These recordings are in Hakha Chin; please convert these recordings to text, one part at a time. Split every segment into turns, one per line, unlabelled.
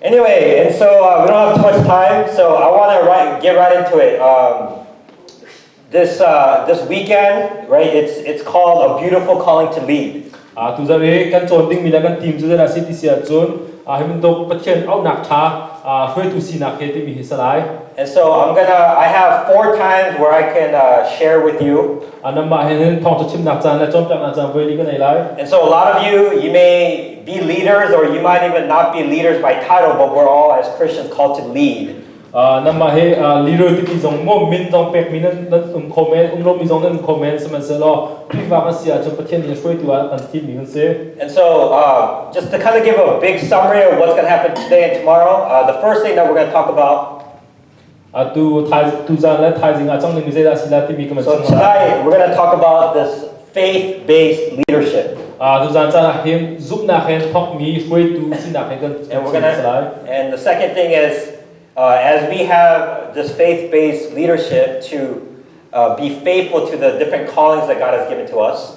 Anyway, and so uh, we don't have too much time, so I want to write, get right into it. Um, this uh, this weekend, right? It's it's called A Beautiful Calling to Lead. Ah tu zar e kan chon ding mi la kan team zu zara city sia chun ah hemin to pathian au nak tha ah hruaitu si nak he ti mi hi salai And so I'm gonna I have four times where I can uh, share with you. anamba hen hen thong to chim nak chan la chon tak na chan voi li kan ai lai And so a lot of you you may be leaders, or you might even not be leaders by title, but we're all as Christians called to lead. Uh, nama he uh, leader ti zong mo min zong pek mi nan nan um kho men um lo mi zong nan kho men sihmanhsehlaw Khrihfa kan si ahcun Pathian nih hruaitu ah kan thim mi kan si. And so uh, just to kind of give a big summary of what's going to happen today and tomorrow, uh, the first thing that we're going to talk about tuzaan le thaizing ah cang ning mi zeidah silah timi ka So today we're going to talk about this faith-based leadership. tuzaan caan ah hin zumnak hen thok mi hruaitu sinak hen kan And we're going to and the second thing is uh, as we have this faith-based leadership to uh, be faithful to the different callings that God has given to us.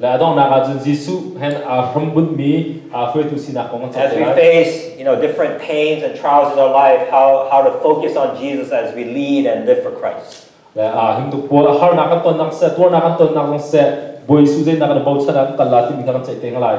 Le a donghnak ah cun Jesuh he aa hrambunhmi aa hruaitu sinak kong a As we cawnpiak. face, you know, different pains and trials in our life, how, how to focus on Jesus as we lead and live for Christ. Le a hingtuk pual harnak kan tonnak seh tuarnak kan tonnak zong seh Bawi Suh zeinak kan bochan ah kan kal la timi kha kan ceih te lai.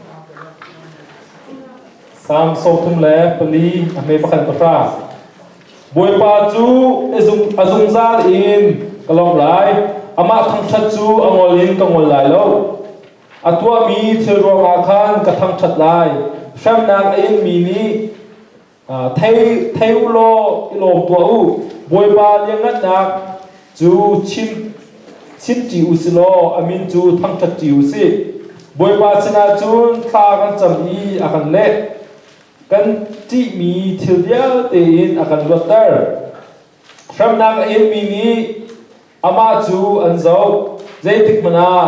Salm sawmthum le pali a hme pakhat pahra. Bawipa cu a zungzal in ka lawmh lai, amah thangṭhat cu a ngol in ka ngol lai lo. A tuahmi thil ruangah khan ka thangṭhat lai, hremnak a inmi nih thei thei u law i lawm tuah u bawipa liangngannak cu chim chim ṭi u si law a min cu thangṭhat ṭi u si bawipa sinah cun thla kan cam i a kan leh kan ṭihmi thil vialte in a kan luatter hremnak a inmi nih amah cu an zoh zeitik hmanh ah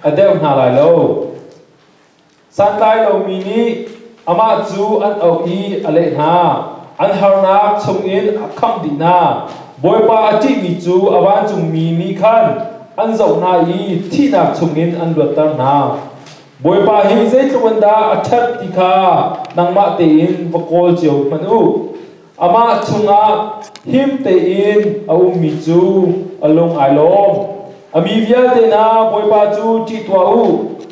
a deuh hna lai lo Santlai lomi nih amah cu an auh i a leh hna, An harnak chungin a khangh dih hna. Bawipa a ṭihmi cu a vancungmi nih khan an zoh hna i thihnak chungin an luatter hna. Bawipa hi zeitluk in dah a ṭhat ti kha nangmah tein va kawl cio hmanh u. Amah chungah him tein a ummi cu a lung ai lawm. A mi vialte hna Bawipa cu ṭih tuah u,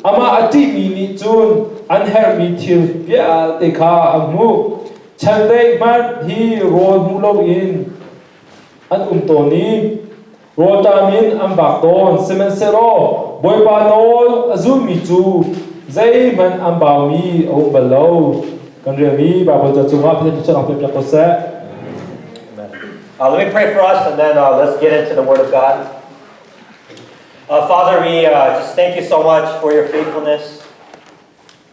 amah a ṭihmi nih cun an herhmi thil vialte kha an hmuh. Chandeih hmanh hi rawl hmuh loin an um tawn i Rualtam in an vak tawn, sihmanhsehlaw Bawipa nawl a zulmi cu zeihmanh an baumi a um bal lo. Kan rial i Baibal ca cungah Pathian cu ang piak ko seh. Uh, let me pray for us and then uh, let's get into the Word of God. Uh, Father, we uh, just thank you so much for your faithfulness.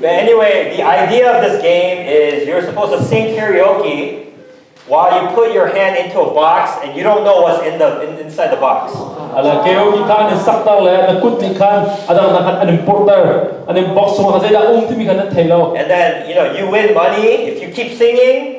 But anyway, the idea of this game is you're supposed to sing karaoke while you put your hand into a box and you don't know what's in the in, inside the box. Ala karaoke khan sak ta le na kut ti khan adang na khan anim porter anim box sung khan zai da um timi khan an thei lo. And then you know you win money if you keep singing.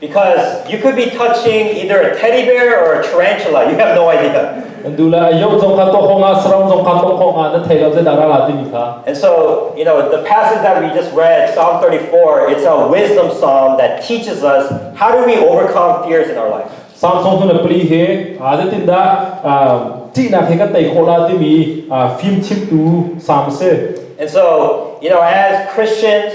Because you could be touching either a teddy bear or a tarantula. You have no idea. And so, you know, the passage that we just read, Psalm 34, it's a wisdom psalm that teaches us how do we overcome fears in our life. Samsung tu na pli he a de tin da ti na he ka tai khola ti mi phim chim tu sam se And so, you know, as Christians,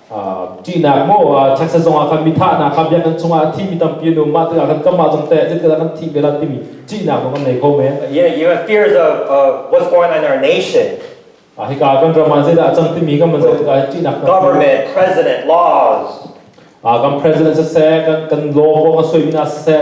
ṭihnak maw taksa zongah khan mi thahnak kha biakinn chungah a thimi tampi an um mah tikah khan kanmah zong teh zeitindah kan thih ve timi ṭihnak zong kan nei kho men Yeah, you have fears of uh, what's going on in our nation. hika kan ram ah zeidah a cang timi kan man zei tikah ṭihnak Government, president, laws. kan president siseh kan kan law kong a suimi na siseh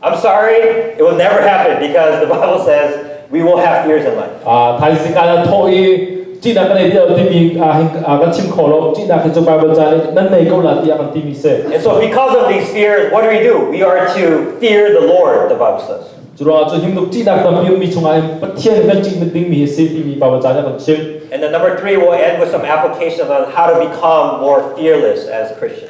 I'm sorry, it will never happen because the Bible says we will have fears in life. Ah, thaising ka la tho i chi na kan ei dia ti mi ah hin kan chim kho lo chi na kan chu Bible cha le nan nei ko la ti an ti mi se And so because of these fears, what do we do? We are to fear the Lord, the Bible says. Chura chu him luk chi na tam pi mi chunga in pathian kan chi mit ding mi se pi mi Bible cha ya kan chim And the number three will end with some application on how to become more fearless as Christians.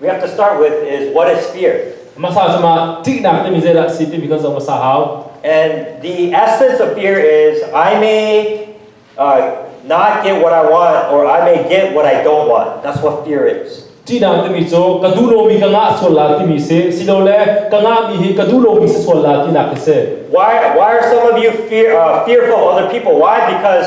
We have to start with is what is fear? Masa cuma tignak timi zeidah si timi kan zong masa hau. And the essence of fear is I may uh, not get what I want or I may get what I don't want. That's what fear is. Tinak timi cu ka duh lomi ka ngah sual la timi si silo le ka ngahmi hi ka duh lomi si sual la tinak hi si. Why why are some of you fear, uh, fearful of other people? Why? Because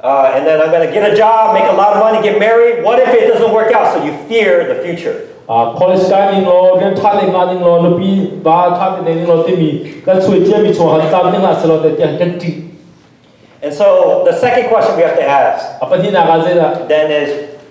Uh, and then I'm going to get a job, make a lot of money, get married. What if it doesn't work out? So you fear the future. Uh, college kai ning lo, rian tha le nga ning lo, nupi ba tha te ning lo timi kan sui tia mi chong han tam ning a selo te tiang kan ti. And so the second question we have to ask then is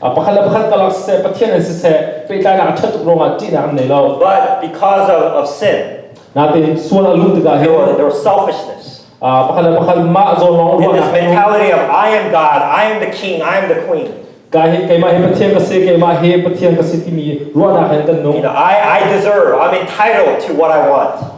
pakhat le pakhat kalak siseh Pathian in siseh fehtlainak a ṭhat tuk ruangah ṭihnak an nei lo but because of, of sin natein sual a luh tikah there were, there was selfishness pakhat le pakhat mah zawn lawng in this mentality of I am God I am the king I am the queen ka hi keimah hi Pathian ka si keimah hi Pathian ka si timi ruahnak hin kan nung you know I I deserve I'm entitled to what I want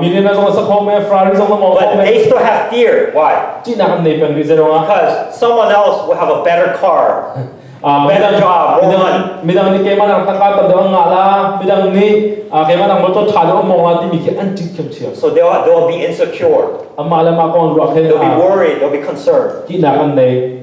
Million azong as a khong me, Ferrari zong na mo But they still have fear. Why? Because someone else will have a better car. A better job, more money. Midang nih keimah nang tangka tam dang ngah la, midang nih keimah nang motor tha dang mong la timi khi an ting thiam thiam. So they'll they'll be insecure. Amah le ma kong ruak he. They'll be worried. They'll be concerned. Ki nak an nei.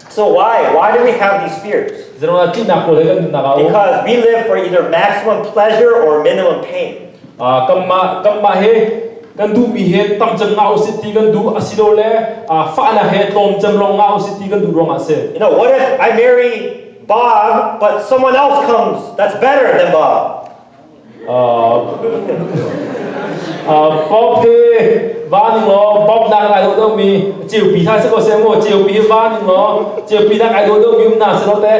So why? Why do we have these fears? Because we live for either maximum pleasure or minimum pain. Ah, kanmah kanmah he kan du mi he tam chan nga usit ti kan du asilo le ah, fa na he tlom chan long nga usit ti kan du rong ase You know, what if I marry Bob, but someone else comes that's better than Bob? Bob hi van ning law Bob nak ai lo deuh mi ceupi hna si ko se mu ceupi hi van ning law ceupi nak ai lo deuh mi um na si lo te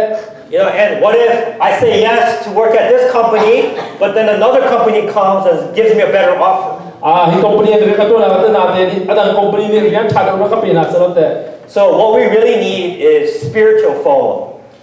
You know, and what if I say yes to work at this company, but then another company comes and gives me a better offer? Ah, hi company nih ka tuan na na te ni adang company ni rian tha deuh na ka pe na si lo te So what we really need is spiritual follow.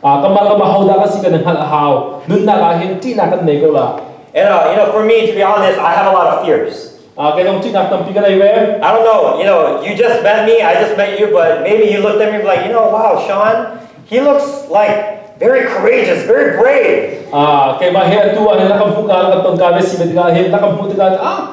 Ah, kamah kamah hodah ka si kan hngalh a hau. Nunnak ah hin ṭihnak kan nei ko la. And uh, you know, for me, to be honest, I have a lot of fears. Ah, kai dong ṭihnak tampi ka nei ve. I don't know, you know, you just met me, I just met you, but maybe you looked at me like, you know, wow, Sean, he looks like very courageous, very brave. Ah, kai ma he atu an la kam hu ka la kan ton ka ve si ve tika he la kam hu tika ah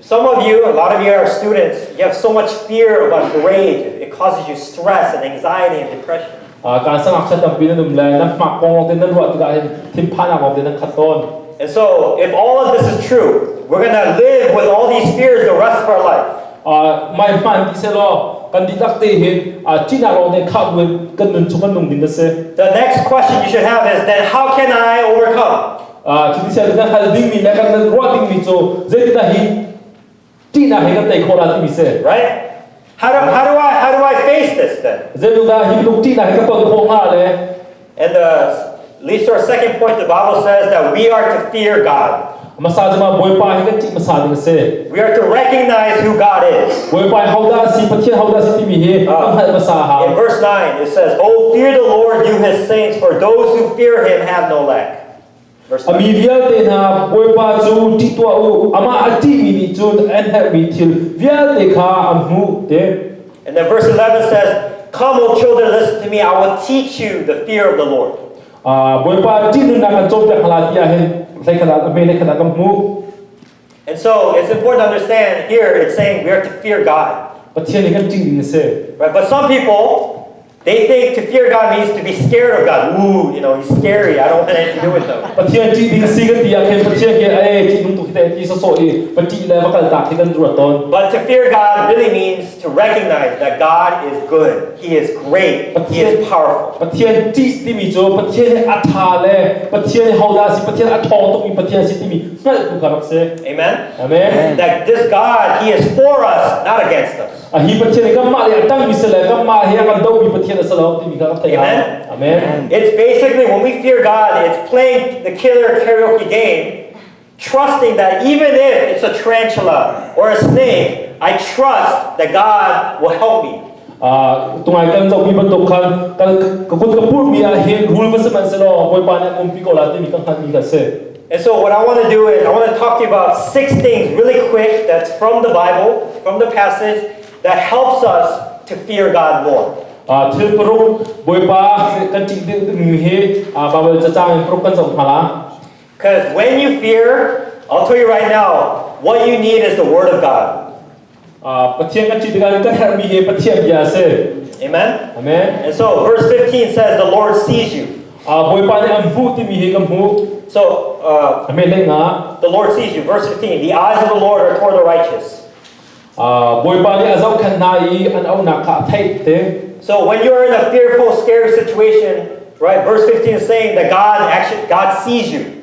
Some of you, a lot of you are students. You have so much fear about grade. It causes you stress and anxiety and depression. kan sang akchat tam bin anum le nan ma kong te nan ruah tikah hin thinphan ak te nan khat ton And so, if all of this is true, we're going to live with all these fears the rest of our life. mai hman ti se lo kan di tak te hin ti na lo ne kha kan nun chung kan nung min na se The next question you should have is then how can I overcome? Cuti sian na hal dingmi le kan nan ruah dingmi cu zeitindah hi ṭihnak he kan tei khawh ra timi si. Right? How do, how do I how do I face this then? Zeitindah hi bantuk ṭihnak he kan ton khawh hnga le And the at least our second point, the Bible says that we are to fear God. Masa jama Bawipa hi kan ṭih masa ding si. We are to recognize who God is. Bawipa hoda si Pathian hoda si timi hi kan hngalh masa ha. In verse 9 it says, "Oh fear the Lord you his saints, for those who fear him have no lack." A mi vialte hna Bawipa cu ṭih tuah u, amah a ṭihmi nih cun an herhmi thil vialte kha an hmuh te. And then verse 11 says, Come, O children, listen to me, I will teach you the fear of the Lord. Uh, Bawipa ṭih nunnak kan cawnpiak hna lai ti ah hin hleikhat ah hme hleikhat ah kan hmuh. And so it's important to understand here it's saying we are to fear God. Pathian kan ting ding a Right, but some people they think to fear God means to be scared of God. Ooh, you know, he's scary. I don't want anything to do with them. Pathian ti ding si kan ti ah khin Pathian ke ai ti nung tu ki te ti so so i pati le va kal ta ti kan ru ton. But to fear God really means to recognize that God is good. He is great. He is powerful. Pathian ti ti mi jo Pathian ni atha le Pathian ni hauda si Pathian athong tuk mi Pathian si ti mi hngalhtu ka rak si. Amen. Amen. That this God he is for us, not against us. A hi Pathian kanmah le a tangmi si le kanmah he a kan domi Pathian a si lo timi kha kan theih. Amen. Amen. It's basically when we fear God, it's playing the killer karaoke game, trusting that even if it's a tarantula or a snake, I trust that God will help me. tungai kan zohmi bantuk khan kan ka kut ka purmi ah hin rule va si man se law bawipa nih umpi ko la timi ka hngalhmi kha si And so what I want to do is I want to talk to you about six things really quick that's from the Bible, from the passage that helps us to fear God more. thil paruk boipa kan ti mi hi bible cha chang paruk kan som mala Because when you fear, I'll tell you right now, what you need is the Word of God. Pathian kan ṭih tikah kan herhmi hi Pathian bia a si. Amen. Amen. And so verse 15 says the Lord sees you. Bawipa nih an hmuh timi hi ka hmuh. So uh, the Lord sees you. Verse 15 The eyes of the Lord are toward the righteous. Bawipa nih a zohkhenh hna i an auhnak kha a theih te. So when you're in a fearful, scared situation, right? Verse 15 is saying that God actually God sees you.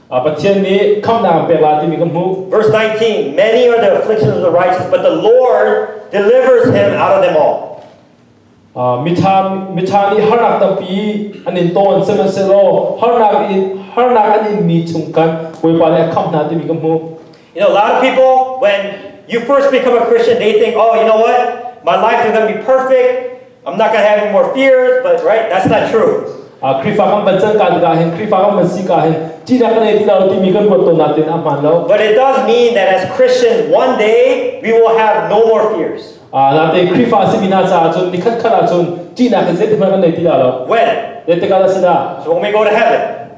Pathian nih khamhnak pek la timi ka hmuh. Verse 19 Many are the afflictions of the righteous but the Lord delivers him out of them all. Mitha mitha nih harnak tampi an in ton sihmanhsehlaw harnak in harnak an in mi chung kan Bawipa nih a khamh hna timi ka hmuh. You know, a lot of people, when you first become a Christian, they think, oh, you know what? My life is going to be perfect. I'm not going to have any more fears. But, right? That's not true. Ah, Krifa kan bancan kan ka hin Krifa kan ban si ka hin ti na kan ti lo ti mi kan ruat to na tin a hman lo But it does mean that as Christians, one day we will have no more fears. ah na te Krifa si bina cha chun ni khat khat a chun ti na kan se ti ma kan nei ti da lo When? de te ka da si da So when we go to heaven,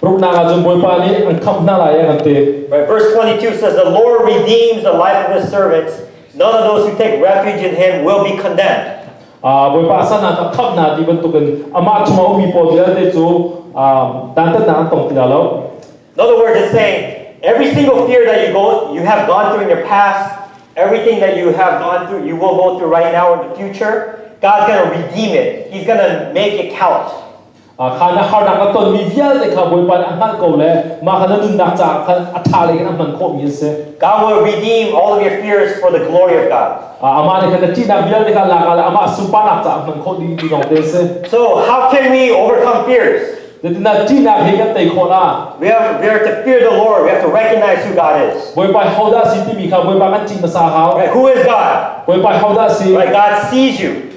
Ruknak ah cun Bawipa nih an khamh hna lai i an ti. Right, verse 22 says, The Lord redeems the life of his servants. None of those who take refuge in him will be condemned. Bawipa san ah a khamh hna ti bantukin amah chung a ummi pawl vialte cu dantatnak an tong ti lo. In other words, it's saying every single fear that you go, you have gone through in your past, everything that you have gone through, you will go through right now in the future. God's going to redeem it. He's going to make it count. kha na harnak na tonmi vialte kha Bawipa nih a hngalh ko le mah kha na nunnak caah khan a ṭha lei in a hman khawhmi an si. God will redeem all of your fears for the glory of God. Amah nih khan na ṭihnak vialte kha lak ah le amah sunparnak caah hman khawh ding ti lawngte a si. So how can we overcome fears? Zetinah ṭihnak hi kan tei khawhna. We have we have to fear the Lord. We have to recognize who God is. Bawipa hodah si timi kha Bawipa kan cing hmasa hau. Right, who is God? Bawipa hodah si? Right, God sees you.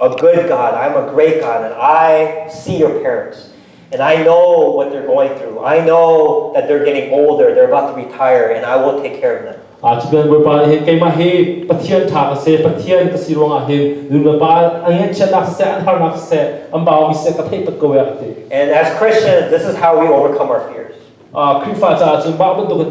a good God, I'm a great God, and I see your parents. And I know what they're going through. I know that they're getting older, they're about to retire, and I will take care of them. Achkan Bawipa nih hin keimah hi Pathian tha ka si Pathian ka si ruangah hin nulepa an ngechiatnak seh an harnak seh an baumi seh ka theih pat ko ya ka ti And as Christians, this is how we overcome our fears. Ah, Khrihfa caah cun mah bantuk in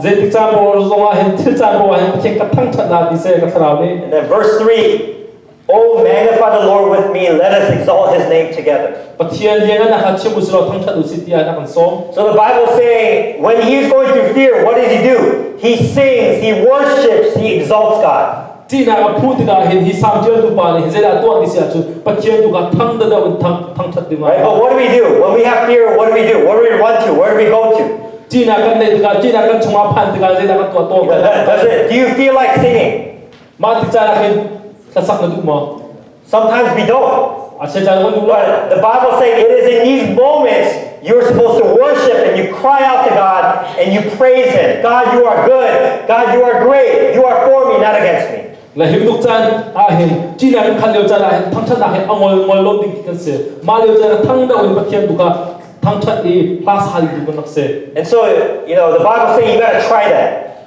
Zeitik caan poah zongah hin thil caan poah hin Pathian ka thangṭhatnak ni seh ka thlarau nih. And then verse 3, Oh magnify the Lord with me, let us exalt his name together. Pathian hian an aka chim usilo thangṭhat usit tiah an kan sawm. So the Bible say when he is going through fear, what does he do? He sings, he worships, he exalts God. ṭihnak a phuh tikah hin hi samṭialtu pa nih zeidah tuah ti si ahcun Pathian tu kha thang dada in thang thangṭhat ding Right? But what do we do? When we have fear, what do we do? What do we run to? Where do we go to? ṭihnak kan neih tikah ṭihnak kan chungah phan tikah zeidah kan tuah tawn That's it. Do you feel like singing? mah ti caan ah hin thlasak na duh maw? Sometimes we don't. The Bible says it is in these moments you're supposed to worship and you cry out to God and you praise Him. God, you are good. God, you are great. You are for me, not against me. La him luk chan a hin chi na khan leo chan a hin thang chan a hin angol ngol lo ding kan se ma leo chan thang da un pathian duka thang chat i pass hal du kan nak se and so you know the bible say you gotta try that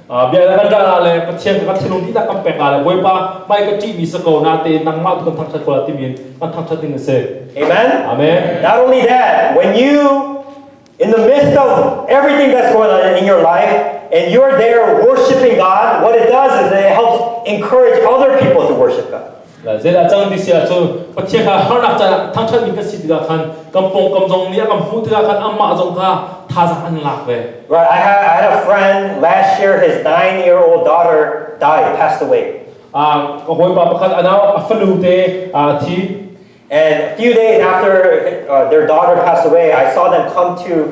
bia na kan ṭah ah le Pathian kan thinlung dihlak kan pek ah le Bawipa hmai ka ṭihmi sa ko na tein nangmah tu kan thangṭhat ko la timi in kan thangṭhat ding a si. Amen. Amen. Not only that, when you in the midst of everything that's going on in your life and you're there worshiping God, what it does is it helps encourage other people to worship God. Zeidah cang ti si ah cun Pathian kha harnak caah thangṭhatmi kan si tikah khan kan pawngkam zong nih a kan hmuh tikah khan amah zong kha thazaang an lak ve. Right, I had, I had a friend last year his nine-year-old daughter died, passed away. Ah, ka hawipa pakhat a nau a fanu te ah a thi. And a few days after uh, their daughter passed away, I saw them come to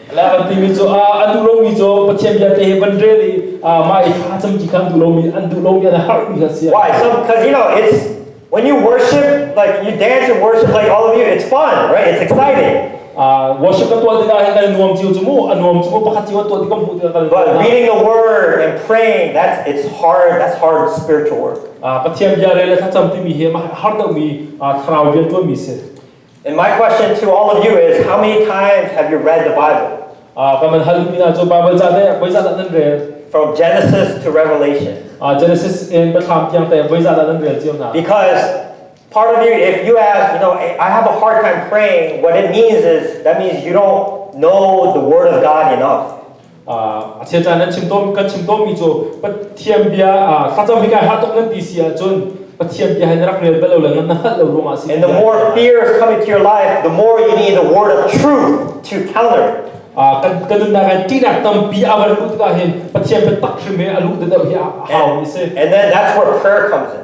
La kan timi cu a duh lomi cu Pathian bia te he ban rel i ma i tha cam ti kha an duh lomi an duh lomi an har mi kha si. Why? So because you know it's when you worship like you dance and worship like all of you it's fun right it's exciting. Uh, worship ka tuah tikah hin kan nuam chiu chumu a nuam chumu pakhat chiu tuah tikam hu tikah kan But reading the word and praying that's it's hard that's hard spiritual work. Uh, Pathian bia rela tha cham timi he ma har dau mi thlarau bia tuah mi se. And my question to all of you is how many times have you read the Bible? Ah, ka man hal mi na chu Bible cha de voi za da nan rel From Genesis to Revelation. Ah Genesis in ba thlam tiang te voi za da nan rel chiu na Because part of you, if you have, you know, I have a hard time praying, what it means is that means you don't know the Word of God enough. a thil caan nan chim tawn kan chim tawnmi cu Pathian bia thlacam hi kai hah tuk nan ti si ahcun Pathian bia hin rak rel bal lo le ngan na hngalh lo ruangah si And the more fears come into your life, the more you need the word of truth to counter. kan kan nunnak hi ṭihnak tampi a van luh tikah hin Pathian biatak hrim he a luh dedeuh hi a hau mi si And then that's where prayer comes in.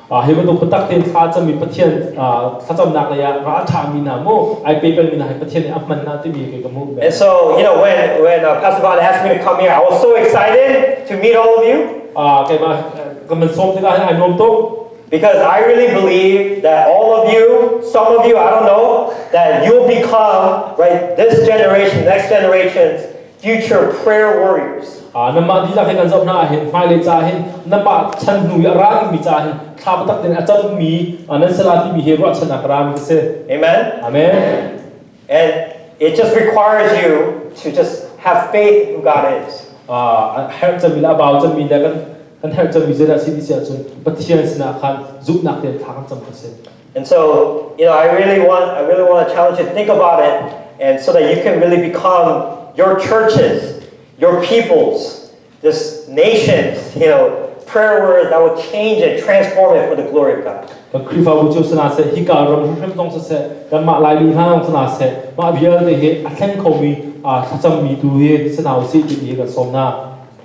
Ah, hi bantuk biatak tein thla cami Pathian ah, thlacamnak lei ah ra a ṭhami hna mu, ai pe pengmi hna hi Pathian nih a hman hna timi kei ka hmuh. And so, you know, when when uh, Pastor Vale asked me to come here, I was so excited to meet all of you Ah, keimah kan man sawm tikah hin ai nuam tuk. because I really believe that all of you, some of you, I don't know, that you'll become right this generation, next generations Future prayer warriors. Ah namah dihlak hin an zoh hna hin hmailei ca hin namah chan hnu i a ra dingmi ca hin thla biatak din a cammi nan sala timi hi ruahchan a rami khi si. Amen. Amen. And it just requires you to just have faith in who God is. Ah herh cami la bau cami da kan kan herh cami zira si disi ahcun Pathian sinah khan zumhnak ten thla kan cam khi si. And so, you know, I really want, I really want to challenge you to think about it, and so that you can really become your churches, your peoples, this nations, you know, prayer word that will change and transform it for the glory of God. Ka Krifabu cu sana se hika ram hrim hrim tong se se kan ma lai li hna nong sana se ma vial te he a thleng khomi a thlacam mi tu he sana si ti ni kan som na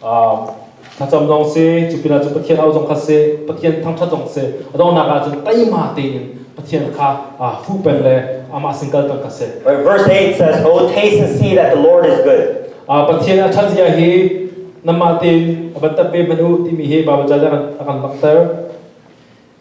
Thlacam zong si, cu pinah cu Pathian aro zong kha si, Pathian thangṭhat zong si, a donghnak ahcun teima tein Pathian kha fu peng le amah sin kal peng kha si. Verse 8 says, Oh, taste and see that the Lord is good. Pathian a ṭhat zia hi namah tein a bantat ve hmanh u timi hi Baibal caan a kan langhter.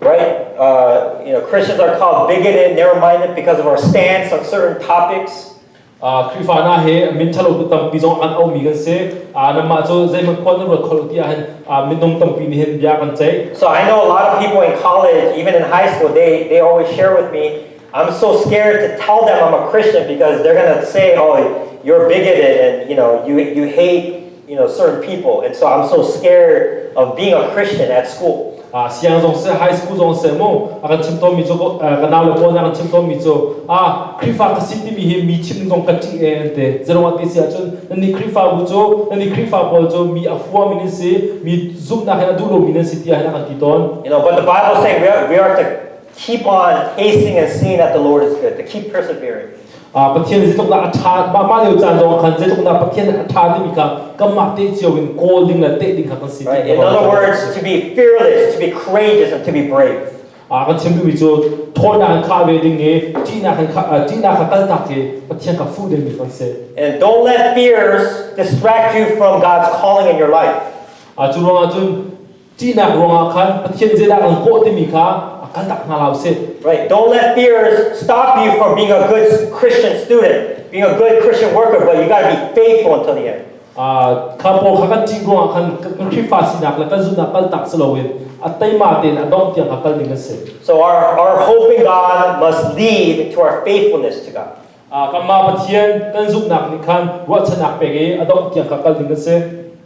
right? Uh, you know, Christians are called bigoted. Never minded because of our stance on certain topics. Krifa na he min thalo tu tam pi jong an au mi kan se na ma chu zai man khon na khol ti ahan min dong tam pi ni hen bia kan chai so I know a lot of people in college even in high school they they always share with me I'm so scared to tell them I'm a Christian because they're gonna say oh you're bigoted and you know you you hate you know certain people and so I'm so scared of being a Christian at school a siang zong se high school zong se mo a kan chim to mi chu ka naw le po na kan chim to mi chu a krifa ka sit mi hi mi chim dong ka ti e ante zerong ati sia chun ni krifa bu chu ni krifa pawl chu mi afua mi ni si mi zoom na ha du lo mi ni si tia na kan ti ton you know but the bible saying we are, we are to keep on acing and seeing that the Lord is good to keep persevering Pathian zeitluknak a ṭha mah lio caan zongah khan zeitluknak Pathian a ṭha dimi kha kanmah teh cio in kawl ding le teh ding kha kan si right. In other words, to be fearless, to be courageous and to be brave. A kan chimtu mi cu thawtnak in kha ve ding i ṭihnak in ṭihnak kha kaltak hi Pathian ka fu ding mi kan si. And don't let fears distract you from God's calling in your life. A cu ruang ahcun Ṭihnak ruangah khan Pathian zeidah kan kawh timi kha a kan dak hna lo si. Right. Don't let fear stop you from being a good Christian student, being a good Christian worker, but you got to be faithful until the end. Uh, kha pawl kha kan ṭih ruangah khan kan Khrihfa sinak le kan zumhnak kal tak si loin a teima tein a dongh tiang kha kal ding an si. So our our hope in God must lead to our faithfulness to God. Uh, kanmah Pathian kan zumhnak nih khan ruahchanak pek i a dongh tiang kha kal ding an si.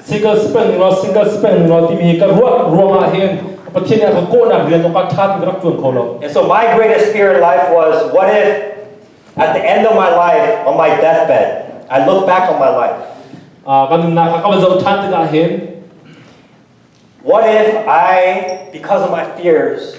single spend ning law single spend ning law timi ka ruah ruangah hin Pathian nih a ka kawhnak rian awkah ṭha ti ka rak ṭuan kho lo. And so my greatest fear in life was what if at the end of my life on my deathbed I look back on my life. kan nunnak kha ka va zoh ṭhan tikah hin What if I because of my fears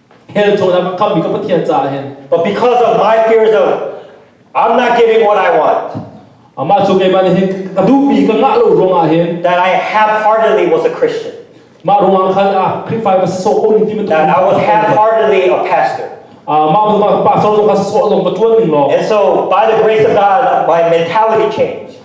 hell chaw lam kham mi ka pathian caah hin but because of my fears of I'm not giving what I want amah cu keimah nih hin ka duhmi ka ngah lo ruangah hin that I half-heartedly was a Christian mah ruangah khan ah Khrihfa ma so ko ni ti that I was half-heartedly a pastor and so by the grace of God my mentality changed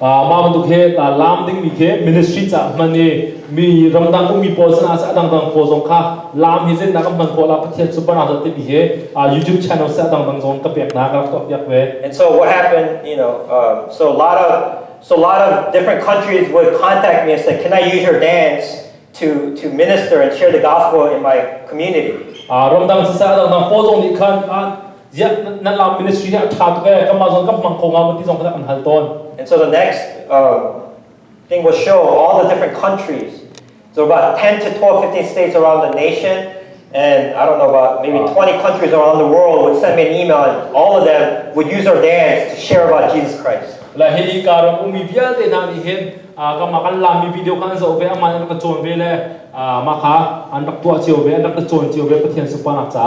mam tuk he ta lam ding mi khi ministry ca hman i mi ramdang ummi pawl sinah a dangdang pawl zong kha lam hi zennak an hman khawh la pathian cu bana zat mi he YouTube channel se dangdang zong ka pek na ka rak tuak piak ve and so what happened you know um, so a lot of so a lot of different countries would contact me and say can I use your dance to, to minister and share the gospel in my community. Ah ramdang si sa dang nang polong ni khan ah ya na la ministry ni atha to ke kama zon ka mang ko nga mati zong kana kan hal ton. And so the next uh, thing will show all the different countries. So about 10 to 12, 15 states around the nation And I don't know about maybe uh, 20 countries around the world would send me an email and all of them would use our dance to share about Jesus Christ. La hi karo umi vialte na ni hen a ka makan lami video kan zo ve aman an ka chon ve le a maka an rak tua chiu ve an rak ka chon chiu ve pathian supana cha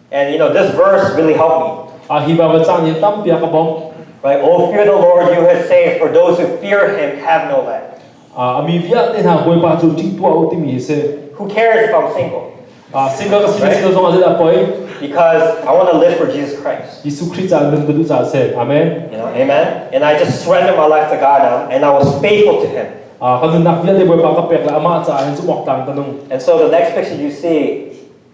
And you know, this verse really helped me. Ah, hi ba cang ni tampi ka bom. Right? Oh, fear the Lord you have saved, for those who fear him have no land. Ah, ami via te na boi pa chu ti tua u ti mi se. Who cares if I'm single? Ah, single ka single single zong ada poi. Because I want to live for Jesus Christ. Yesu Christ an nun badu cha se. Amen. You know, amen. And I just surrender my life to God now, and I was faithful to him. Ah, kan nak via te boi pa ka pek la ama cha an chu mok tang tanung. And so the next picture you see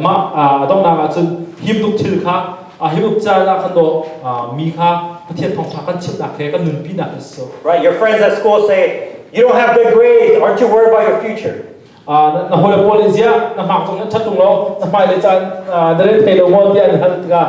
mah a donghnak ahcun himtuk thil kha himtuk caan ah kan daw mi kha Pathian thawngṭha kan chimhnak he kan nunpinak hi so right your friends at school say you don't have good grades aren't you worried about your future na hawile pawl nih ziah na hmak chung in ṭhat tung law na hmailei caan na rel thai lo maw tiah an hal tikah